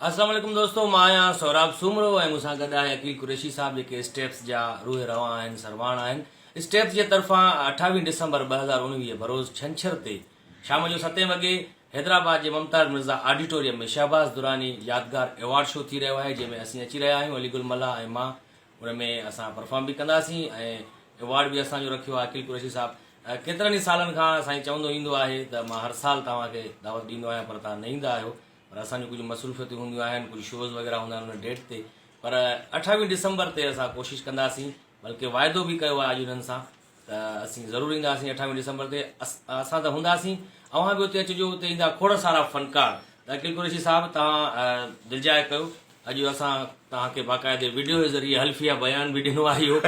السلام عليڪم دوستو مان آهيان سهراب سومرو ۽ مون سان گڏ آهي عقيل قريشي صاحب جيڪي اسٽيپس جا روح روان آهن سرواڻ آهن اسٽيپس جي طرفان اٺاويهه ڊسمبر ٻه هزار اڻويهه بروز ڇنڇر تي شام جو ستين وڳي حيدرآباد جي ممتاز مرزا آڊيٽوريم ۾ شهباز دراني يادگار ايوارڊ شو ٿي رهيو آهي جنهن ۾ اسين اچي رهيا آهيون علي گل ملاح ۽ مان ان ۾ اسان پرفارم به ڪنداسين ۽ ايوارڊ به اسان جو رکيو آهي عقيل قريشي صاحب ڪيترن ئي سالن کان سائين چوندو ايندو آهي ته مان هر سال توهان کي دعوت ڏيندو آهيان پر توهان نه ايندا آهيو پر اسان جون ڪجهه مصروفيتون هونديون آهن ڪجهه شوز وغيره هوندا آهن ان ڊيٽ تي پر اٺاويهه ڊسمبر تي اسان ڪوشش ڪنداسين بلڪه واعدو به ڪيو آهي اڄ انهن سان ته اسين ضرور اينداسين اٺاويهه ڊسمبر تي اسان ته هونداسين اوهان به اتي اچجو اتي ايندا کوڙ سارا فنڪار ته عقيل قريشي صاحب توهان دلجاء ڪيو اڄ اسان توهان کي باقاعدي ويڊيو جي ذريعي حلفيه بيان به ڏنو آهي اهو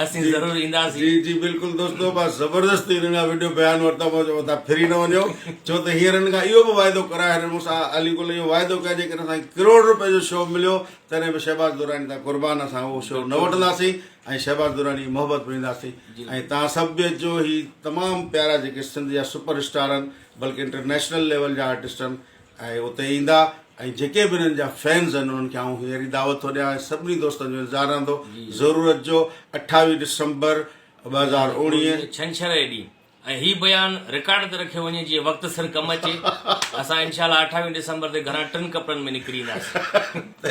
اسين ضرور اينداسين جي جي بلڪل دوستو بس زبردست انهن جا ويڊيو بيان ورتا مون چيو ته ڦري نه وڃو ڇو ته هينئر هن کان اهو به واعدو ڪرايو هن مون سان علي گل اهو واعدو ڪيو جيڪڏهن اسان کي ڪروڙ روپيه جو شو مليو تڏهن به شهباز دراني تان قربان اسان اهو شو نه وٺنداسين ۽ شهباز دراني محبت پرينداسي ۽ توهان سڀ به اچجو هي تمام پيارا جيڪي سنڌ جا سپر اسٽار آهن بلڪه انٽرنيشنل ليول جا آرٽسٽ آهن اهي اتي ايندا ۽ جيڪي به انهن جا فينز آهن انهن کي آئون هينئر ئي دعوت ٿو ڏيان ۽ سڀني دوستن جو انتظار رهندو ضرور اچجو اٺاويهه ڊسمبر ٻه هزار اوڻيهه ڇنڇر جي ڏينهن ۽ هي بيان رڪارڊ تي رکيو وڃي جيئن وقت سر ڪم اچي اسان انشاء الله اٺاويهه ڊسمبر تي گهران ٽن ڪپڙن ۾ نڪري اينداسين.